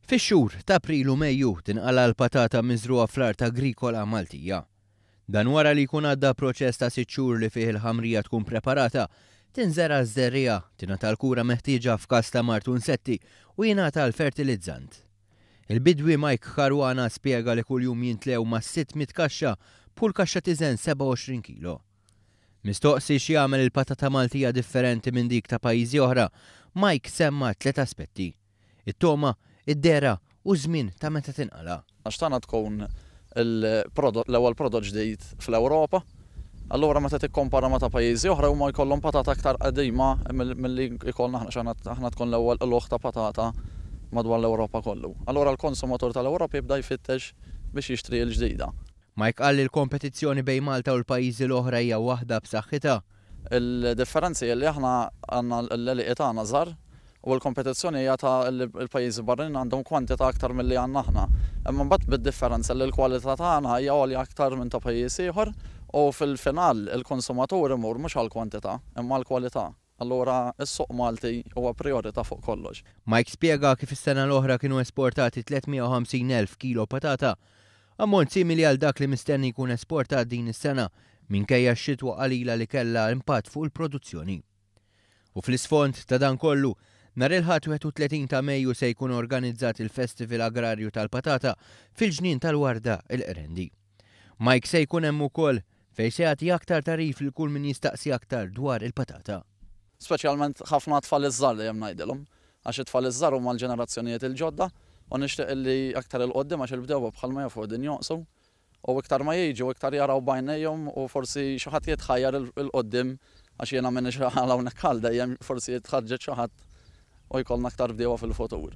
Fix-xhur t'April u Mejju tinqala' l-patata miżrugħa fl-art agrikola Maltija. Dan wara li jkun għadda proċess ta' sitt xhur li fih il-ħamrija tkun preparata, tinżera' ż-żerriegħa, tingħata l-kura meħtieġa f'każ ta' mard u nsetti u jingħata l-fertilizzant. Il-bidwi Mike Caruana spjega li kuljum jintlew mas-sitt mitt kaxxa b'kull kaxxa tiżen 27 kilo. Mistoqsi x'jagħmel il-patata Maltija differenti minn dik ta' pajjiżi oħra, Mike semma' tliet aspetti, it-togħma, id-dehra u ż-żmien ta' meta tinqala'. Għax tagħna tkun il-prodott l-ewwel prodott ġdid fl-Ewropa. Allura meta tikkompara ma' ta' pajjiżi oħra huma jkollhom patata aktar qedima milli jkollna aħna għax aħna tkun l-ewwel qlugħ ta' patata madwar l-Ewropa kollu. Allura l-konsumatur tal-Ewropa jibda jfittex biex jixtri l-ġdida. Mike qal li l-kompetizzjoni bejn Malta u l-pajjiżi l-oħra hija waħda b'saħħitha. Il-differenzi hi li aħna għandna l-għelieqi tagħna żgħar u l-kompetizzjoni hija ta' li l-pajjiżi barranin għandhom kwantità aktar milli għandna aħna. Imma mbagħad bid-differenza li l-kwalità tagħna hija għolja aktar minn ta' pajjiż ieħor u fil-final il-konsumatur imur mhux għall-kwantità imma għall-kwalità. Allura s-suq Malti huwa prijorità fuq kollox. Mike spjega kif is-sena l-oħra kienu esportati 350 elf kilo patata, ammont simili għal dak li mistenni jkun esportat din is-sena minkejja x-xitwa qalila li kellha impatt fuq il-produzzjoni. U fl-isfond ta' dan kollu, nhar il-Ħadd 31 ta' Mejju se jkun organizzat il-Festival Agrarju tal-Patata fil-Ġnien tal-Warda, il-Qrendi. Mike se jkun hemm ukoll, fejn se jagħti aktar tagħrif lil kull min jistaqsi aktar dwar il-patata. Speċjalment ħafna għat-tfal iż-żgħar dejjem ngħidilhom, għax it-tfal iż-żgħar huma l-ġenerazzjonijiet il-ġodda u nixtieq illi aktar 'il quddiem għax il-bdewwa bħalma jafu qegħdin jonqsu u iktar ma jiġu iktar jaraw b'għajnejhom u forsi xi ħadd jitħajjar 'il quddiem għax jiena m'iniex għal hawnhekk għal dejjem forsi jitħarrġet xi ħadd u jkollna aktar bdiewa fil-futur.